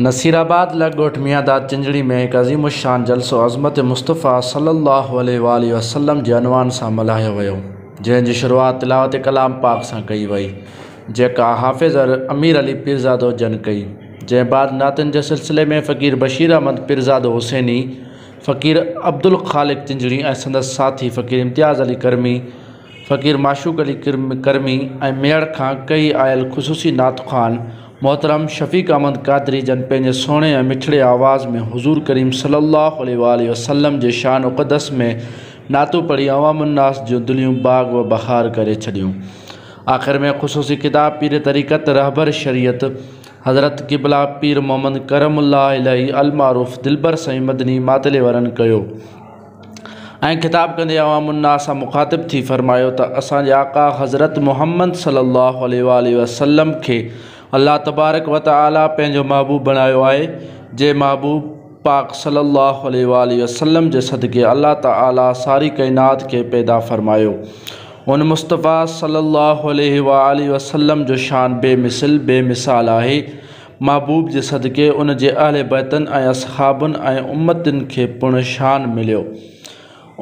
نصيرآباد لڳ ڳوٺ ميان داد چنجڙي ۾ هڪ عظيم الشان جلسو عظمت مصطفيٰ صلّي الله عليه واٰله وسلّم جي عنوان سان ملهايو ويو جنهن جي شروعات تلاوت ڪلام پاڪ سان ڪئي وئي جيڪا حافظ امير علي پيرزادو جن ڪئي جنهن بعد نعتن جي سلسلي ۾ فقير بشير احمد پيرزادو حسيني فقير عبدالخالق چنجڙي ۽ سندس ساٿي فقير امتياز علي ڪرمي فقير معشوق علي ڪرمي ۽ ميڙ کان ڪهي آيل خصوصي نعت خوان محترم شفيق احمد قادري جن پنهنجي سهڻي ۽ مٺڙي آواز ۾ حضور ڪريم صلي الله عليه واٰله وسلم جي شان اقدس ۾ نعتون پڙهي عوام الناس جون دليون باغ و بهار ڪري ڇڏيون آخر ۾ خصوصي خطاب پير طريقت رهبر شريعت حضرت قبلا پير محمد ڪرم الله الاھي المعروف دلبر سائين مدني ماتليورن ڪيو. ۽ خطاب ڪندي عوام الناس سان مخاطب ٿي فرمايو ته اسان جي آقا حضرت محمد صلّي اللّٰه عليه واٰله وسلّم کي الله تبارڪ و تعالٰي پنهنجو محبوب بڻايو آهي جنهن محبوب پاڪ صلّي اللّٰه عليه واٰله وسلّم جي صدقي الله تعالٰي ساري ڪائنات کي پيدا فرمايو ان مصطفٰي صلّي اللّٰه عليه واٰله وسلّم جو شان بي مثل بي مثال آهي محبوب جي صدقي ان جي اهل بيتن ۽ اصحابن ۽ امتين کي پڻ شان مليو.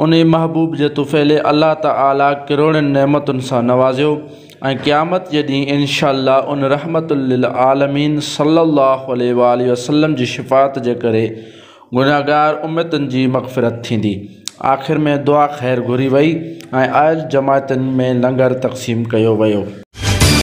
انهي محبوب جي طفيلي الله تعالي ڪروڙين نعمتن سان نوازيو ۽ قيامت جي ڏينهن انشاء الله ان رحمة للعالمين صلّي اللّٰه عليه واٰله وسلّم جي شفاعت جي ڪري گنهگار امتين جي مغفرت ٿيندي. آخر ۾ دعا خير گهري وئي ۽ آيل جماعتين ۾ لنگر تقسيم ڪيو ويو.